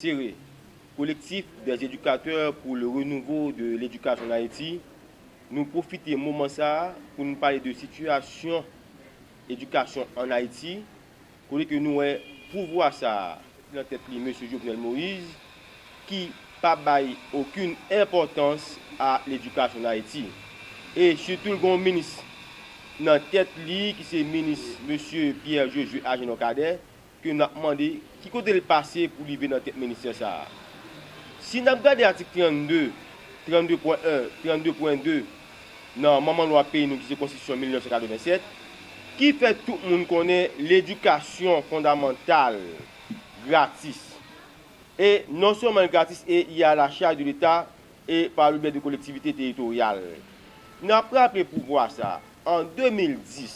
Tiré. Collectif des éducateurs pour le renouveau de l'éducation en Haïti, Nou pwofite moman sa a pou nou pale de sitiyasyon edikasyon an Ayiti, kote ke nou wè pouvwa sa a, ki nan tèt li Mesye Jovenel Moïse, ki pa bay okin enpòtans a ledikasyon an Ayiti. E sitou l gen yon minis nan tèt li ki se minis Mesye Pierre Josué Agénor Cadet, ke nap mande ki kote l pase pou rive nan tèt ministè sa a. Si nap gade atik 32, 32.1, 32.2 nan manman lwa peyi nou ki se konstitisyon 1987, ki fè tout moun konnen ledikasyon fondamantal gratis. E non sèlman l gratis e li a la chaj de leta e pa le bè de kolektivite teritoryal. Nap raple pouvwa sa, An 2010,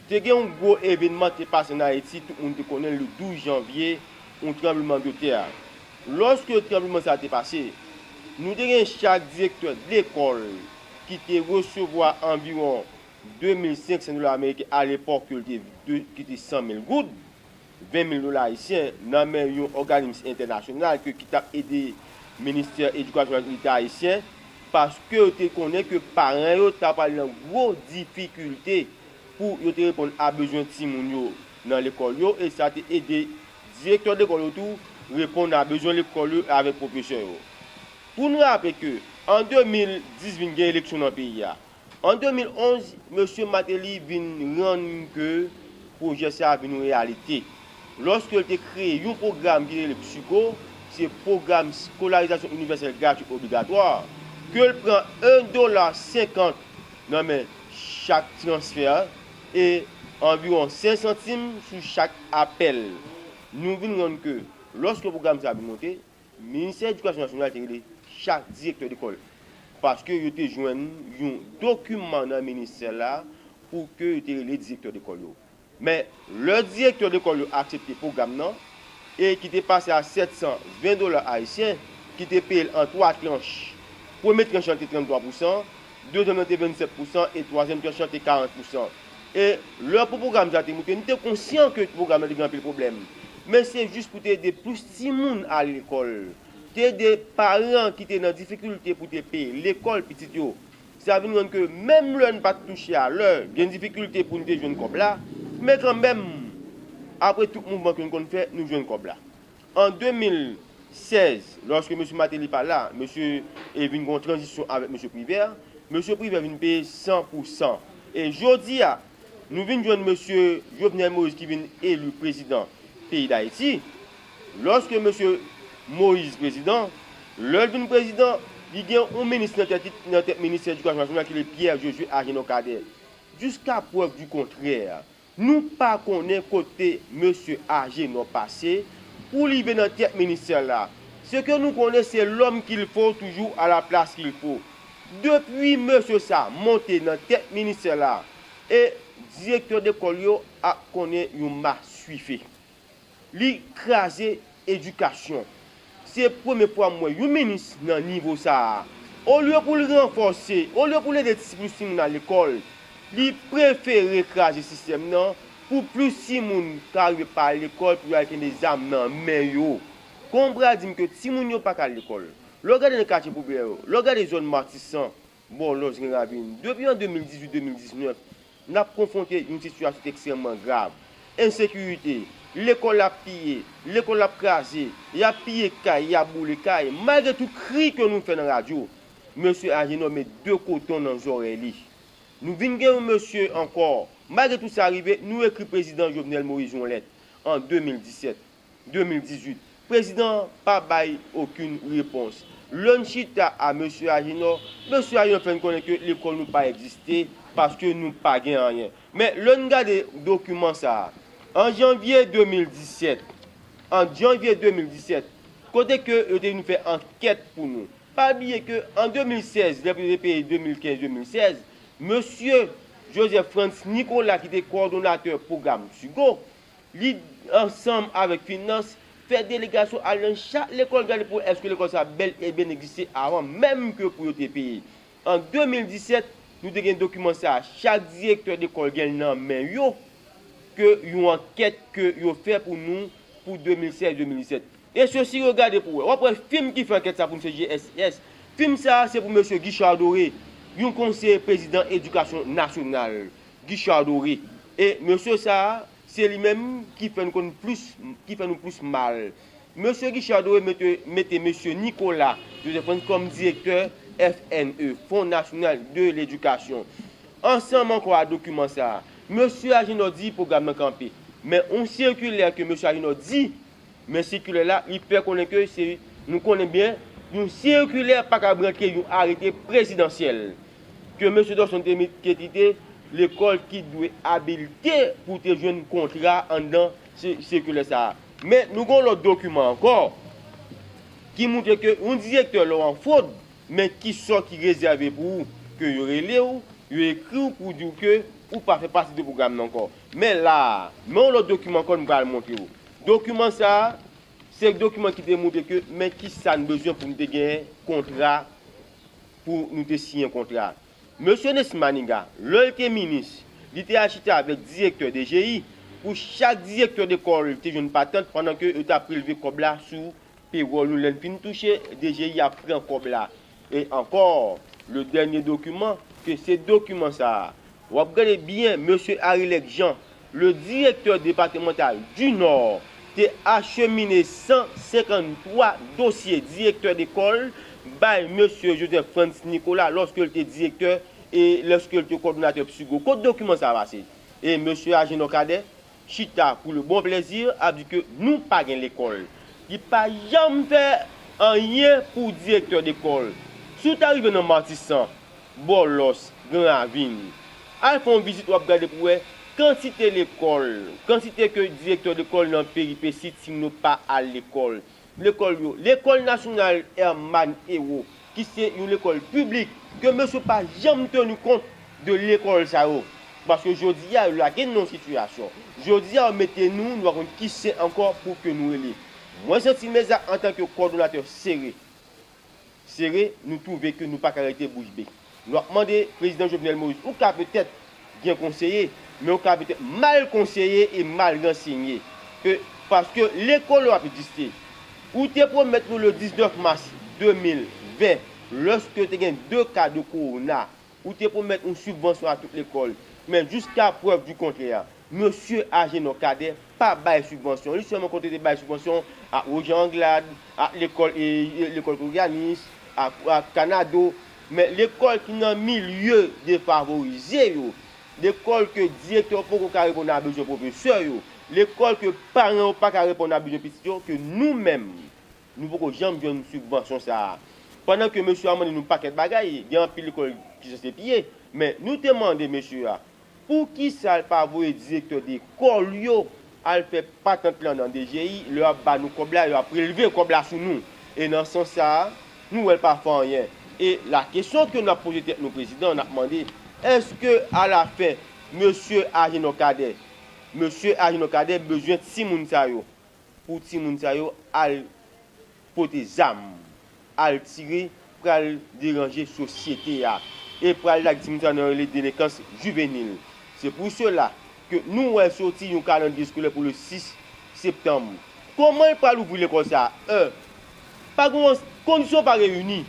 te gen yon gwo evenman ki te pase an Ayiti, tout moun te konnen l, le 12 janvye, yon tranbleman de tè. Lòske tranbleman sa a te pase, nou te gen chak direktè lekòl ki te resevwa anviwon 2500 dola ameriken alepòk yo l te, ki te 100 mil goud. 20 mil dola ayisyen nan men yon òganims entènasyonal ke ki tap ede ministè edikasyon ak leta ayisyen paske yo te konnen ke paran yo ta pral nan gwo difikilte pou yo te reponn a bezwen timoun yo nan lekòl yo e sa te ede direktè lekòl yo tou reponn a bezwen lekòl yo avèk pwofesè yo. Pou n raple ke an 2010 vin gen eleksyon nan peyi a, An 2011, Mesye Martelly vin rann ke pwojè sa a vin yon reyalite, lòske l te kreye yon pwogram ki rele PSUGO, se Pwogram Skolarizasyon Inivèsèl Gratwi Obligatwa, ke l pran 1 dola 50 nan men chak transfè e anviwon 5 santim sou chak apèl. Nou vin rann ke, lòske pwogram sa a vin monte, Ministè Edikasyon Nasyonal te rele chak direktè lekòl paske yo te jwenn yon dokiman nan ministè la pou ke yo te rele direktè lekòl yo. Men, lè direktè lekòl yo aksepte pwogram nan e ki te pase a 720 dola ayisyen ki te peye l an 3 tranch, premye tranch lan te 33 pousan, Dezyèm nan te 27 pousan e twazyèm tranch lan te 40 pousan. E lè pou pwogram sa te moute, nou te konsyan ke pwogram nan te gen anpil pwoblèm. Men se jis pou te ede plis timoun al lekòl. Te ede paran ki te nan difikilte pou te peye lekòl pitit yo. Sa vin rann ke menm lè n pa t touche a lè, gen difikilte pou n te jwenn kòb la, men kanmenm, apre tout mouvman ke n konn fè, nou jwenn kòb la. An 2016, lòske Mesye Martelly pa la, mesye e vin gen yon tranzisyon avèk Mesye Privert, Mesye Privert vin peye 100 pou 100. E jodi a, nou vin jwenn Mesye Jovenel Moïse ki vin eli prezidan peyi Dayiti, lòske Mesye Moïse prezidan, lè l vin prezidan, li gen yon minis nan tèt li, nan tèt ministè edikasyon nasyonal ki rele Pierre Josué Agénor Cadet. Jiska prèv di kontrè, Nou pa konnen kote mesye Agenor pase pou li vin nan tèt ministè la. Se ke nou konnen se l'homme qu'il faut toujou à la place qu'il faut. Depui mesye sa monte nan tèt ministè la e direktè dekòl yo ap konnen yon masuife. Li kraze edikasyon. Se premye fwa m wè yon minis nan nivo sa a. Olye pou l ranfòse, olye pou l ede ti plis timoun al lekòl, li prefere kraze sistèm nan pou plis timoun ka rive pa al lekòl pou yo al kenbe zam nan men yo. Konbra di m ke timoun yo pa ka al lekòl. Lè w gade nan katye popilè yo, lè w gade zòn Matisan, Bò lòt Green Ravine, depi an 2018-2019, n ap konfwonte yon sitiyasyon ki ekstrèmman grav. Ensekirite, lekòl ap piye, lekòl ap kraze, y ap piye kay, y ap boule kay, malgre tout kri ke nou fè nan radyo. Mesye Agénor met 2 koton nan zòrèy li. Nou vin gen yon mesye ankò, malgre tout sa rive, nou ekri Prezidan Jovenel Moïse yon lèt, an 2017. 2018. Prezidan an pa bay okenn repons. Lè n chita a Mesye Ajenò, Mesye Ajenò fè n konnen ke lekòl nou pa egziste paske nou pa gen anyen. Men, lè n gade dokiman sa a, an janvye 2017, an janvye 2017, kote ke yo te vin fè ankèt pou nou. Pa bliye ke an 2016, lè pou yo te peye 2015-2016, Mesye Joseph Frantz Nicolas ki te kowòdonatè pwogram Tugo, Li, ansanm avèk finans, fè delegasyon al nan chak lekòl gade pou wè èske lekòl sa a bèl e byen egziste avan menm ke pou yo te peye. An 2017, nou te gen dokiman sa a, chak direktè lekòl gen l nan men yo, ke yon ankèt ke yo fè pou nou pou 2016-2017. E sosi yo gade pou wè. W ap wè fim ki fè ankèt sa a pou msye JSS. Fim sa a se pou mesye Guichard Doré, yon konseye prezidan edikasyon nasyonal. Guichard Doré e mesye sa se li menm ki fè n konn plis ki fè nou plis mal mesye Guichard Doré mete mete mesye Nicolas Joseph Frantz kòm direktè FNE Fon Nasyonal de Ledikasyon ansanm ankò a dokiman sa mesye Agénor di pwogram nan kanpe men yon sikilè ke mesye Agénor di Men sikilè la, li fè konnen ke se, nou konnen byen, yon sikilè pa kab rantre yon arete prezidansyèl. Ke Mesye Dorson te met te kite lekòl ki dwe abilte pou te jwenn kontra anndan sikilè sa a. Men nou gen yon lòt dokiman ankò ki moutre ke yon direktè lè w an fwod, men ki sò ki rezève pou ou, ke yo rele w, yo ekri w pou di w ke ou pa fè pati de pwogram nan ankò. Men la a, men yon lòt dokiman ankò m pral montre ou. Dokiman sa a, se dokiman ki te montre ke men ki sa n bezwen pou n te genyen kontra, pou nou te siyen kontra a. Mesye Nesmy Maniga, lè l te minis, li te al chita avèk direktè DGI, pou chak direktè lekòl te jwenn patant pandan ke yo t ap prelve kòb la sou pewòl nou. Lè n fin touche, DGI ap pran kòb la. E ankò, le dènye dokiman, ke se dokiman sa a. W ap gade byen, Mesye Arilec Jean, le Directeur Départemental du Nord, te achemine 153 dosye direktè lekòl bay Mesye Joseph Frantz Nicolas lòske l te direktè e lòske l te kòdonatè PSUGO. Kot dokiman sa a pase? E Mesye Agénor Cadet, Chita pou le bon plezi ap di ke nou pa gen lekòl. Li pa janm fè anyen pou direktè dekòl. Si w ta rive nan Matisan, Bòlòs, Gran Ravin, al fè yon vizit w ap gade pou wè kantite lekòl, kantite ke direktè dekòl nan peripesi Tigno pa al lekòl. Lekòl yo. Lekòl Nasyonal Hermann Hérault ki se yon lekòl piblik ke mesye pa janm tenu kont de lekòl sa yo. Paske jodi a yo lage nou nan yon sitiyasyon. Jodi a yo mete nou, nou pa konn ki sen ankò pou ke nou rele. Mwen santi meza antanke kòdonatè sere. sere, nou twouve ke nou pa ka rete bouch be. Nou ap mande Prezidan Jovenel Moïse, ou ka petèt gen konseye, men ou ka petèt mal konseye e mal ransenye. Ke, paske lè kolon ap egziste, ou te pwomèt nou le 19 mas 2020, lòske te gen 2 ka de kowona Ou te pwomèt yon sibvansyon a tout lekòl, men jiska prèv di kontrè, Mesye Agenor Cadet pa bay sibvansyon. Li sèlman konte te bay sibvansyon ak Roger Anglade, ak lekòl Lekòl Korianis, ak Kanado. Men lekòl ki nan milye defavorize yo, lekòl ke direktè yo poko ka reponn a bezwen pwofesè yo, lekòl ke paran yo pa ka reponn a bezwen pitit yo, ke nou menm Nou poko janm jwenn sibvansyon sa a. Pandan ke mesye a mande nou pakèt bagay, gen anpil lekòl ki sanse piye, men nou te mande mesye a, poukisa l pa voye direktè de kòl yo al fè patant lan nan DGI, lè yo ap ba nou kòb la, yo ap prelve kòb la sou nou. E nan sans sa a, nou wè l pa fè anyen. E la kesyon ke nou ap poze tèt nou prezidan, n ap mande, èske a la fen, mesye Ajenò Kadè, mesye Ajenò Kadè bezwen timoun sa yo, pou timoun sa yo al pote zam, al tire pral deranje sosyete a e pral lage timoun sa yo nan yon rele delenkans jivenil. Se pou sela ke nou wè soti yon kalandriye eskolè pou le 6 septanm. Koman yo pral ouvri lekòl sa a? È pa gen yon, kondisyon pa reyini.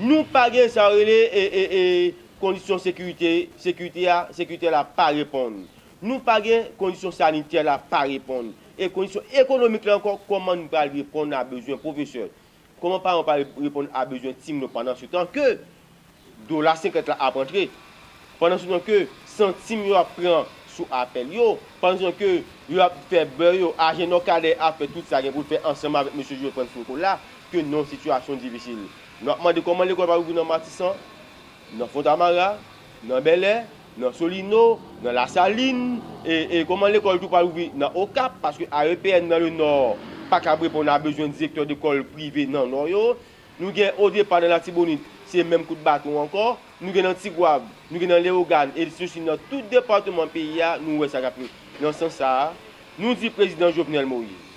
Nou pa gen sa yo rele kondisyon sekirite, sekirite a, sekiritè la pa reponn. Nou pa gen kondisyon sanitè la pa reponn e kondisyon ekonomik la ankò kòman n pral reponn a bezwen pwofesè? Kòman paran pral reponn a bezwen timoun yo pandan se tan ke dola 50 la ap antre, pandan se tan ke santim yo ap pran sou apèl yo, pandan se tan ke yo ap fè bè yo, ajen Nòkadè ap fè tout sa gen pou l fè ansanm avèk mesye Joseph Frantz Foucault la ke non sitiyasyon difisil. Nou ap mande kòman lekòl pral ouvri nan Matisan? Nan Fontamara, nan Bèlè, nan Solino, nan Lasalin, e kòman lekòl tou pral ouvri nan Okap, paske AEPN nan Lenò pa kab reponn a bezwen direktè lekòl prive nan Nò yo. Nou gen odepa nan Latibonit, se menm kout baton ankò. Nou gen nan Tigwav, nou gen nan Lewogàn, e lse si nan tout departeman peyi a nou wè sa kap fèt. Nan sans sa a, nou di prezidan Jovenel Moïse,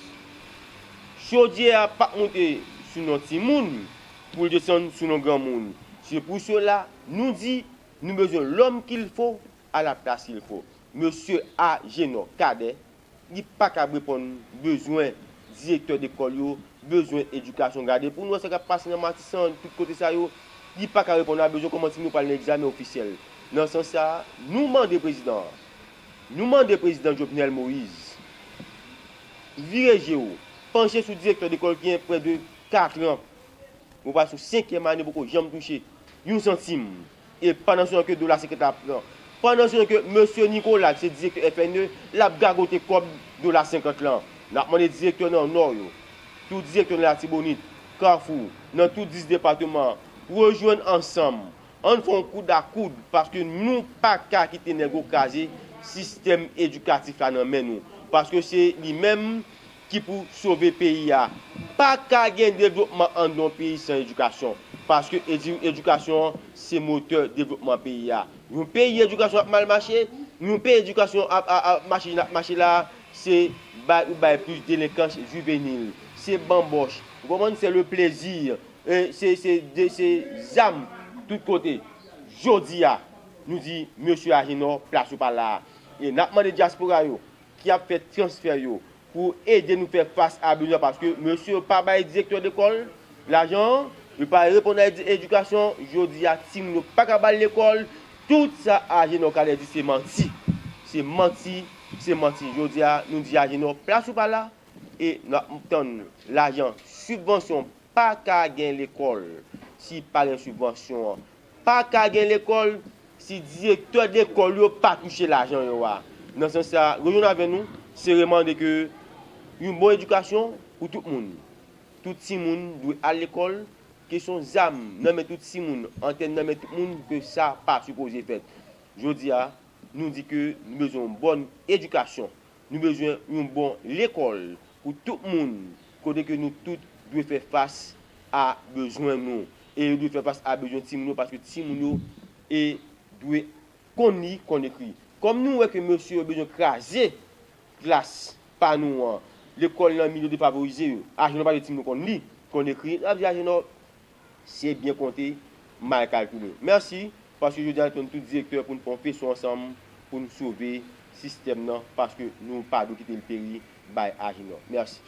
chodyè a pap moute sou non timoun, Pou l desann sou nou granmoun. Se pou sela, nou di, nou bezwen lòm kil fo, a la plas kil fo. Mesye Ajenò Kadè, li pa kab reponn bezwen direktè lekòl yo, bezwen edikasyon. Gade pou nou wè sa k ap pase nan Matisan, tout kote sa yo. Li pa ka reponn a bezwen kòman timoun yo pral nan egzamen ofisyèl. Nan sans sa a, nou mande prezidan an, nou mande prezidan Jovenel Moïse, vire je w, panche sou direktè lekòl ki gen prè de Katran. Mwen pral sou senkyèm ane poko janm touche yon santim. E pandan se tan ke dola senkyant la ap pran. Pandan se tan ke mesye Nicolas ki se direktè FNE l ap gagote kòb dola senkant lan. N ap mande direktè nan Nò yo, tout direktè nan Latibonit, Kafou, nan tout 10 depateman an, rejwenn ansanm. Ann fè yon koud a koud paske nou pa ka kite nèg yo kraze sistèm edikatif la nan men nou. Paske se li menm ki pou sove peyi a. Pa ka gen devlopman an yon peyi san edikasyon. Paske edikasyon an se motè devlopman peyi a. Yon peyi edikasyon ap mal mache, yon peyi edikasyon ap mache jan ap mache la a, se bay ou bay plis delenkans jivenil. Se banbòch. Ou konprann? Se le plezi. Se zam tout kote. Jodi a, nou di mesye Ajenò, plas ou pa la a. E n ap mande dyaspora yo, ki ap fè transfè yo pou ede nou fè fas a bezwen paske mesye yo pa bay direktè lekòl lajan an, yo pa reponn a edikasyon, jodi a timoun yo pa ka ba l lekòl, tout sa Agenor Calais di se manti, se manti, se manti, jodi a nou di Agenor plas ou pa la e nou ap tann lajan sibvansyon, pa ka gen lekòl si pa gen sibvansyon an, Pa ka gen lekòl si direktè lekòl yo pa touche lajan yo a. Nan sans sa, rejwenn avè nou, se remande ke yon bon edikasyon pou tout moun. Tout timoun dwe al lekòl, kesyon zam nan men tout timoun, antèn nan men tout moun ke sa pa sipoze fèt. Jodi a, nou di ke nou bezwen yon bòn edikasyon Nou bezwen yon bon lekòl pou tout moun kote ke nou tout dwe fè fas a bezwen nou e yo dwe fè fas a bezwen timoun yo paske timoun yo e dwe konn li, konn ekri. Kòm nou wè ke mesye yo bezwen kraze klas pa nou an, lekòl nan milye defavorize yo, Ajenò pa vle timoun yo konn li, konn ekri, yo ap di Ajenò Se byen konte, mal kalkile. Merci, paske jodi a nou te menm tout direktè pou nou fè yon feson ansanm pou nou sove sistèm nan paske nou pa dwe kite l peri bay Ajenò. Merci.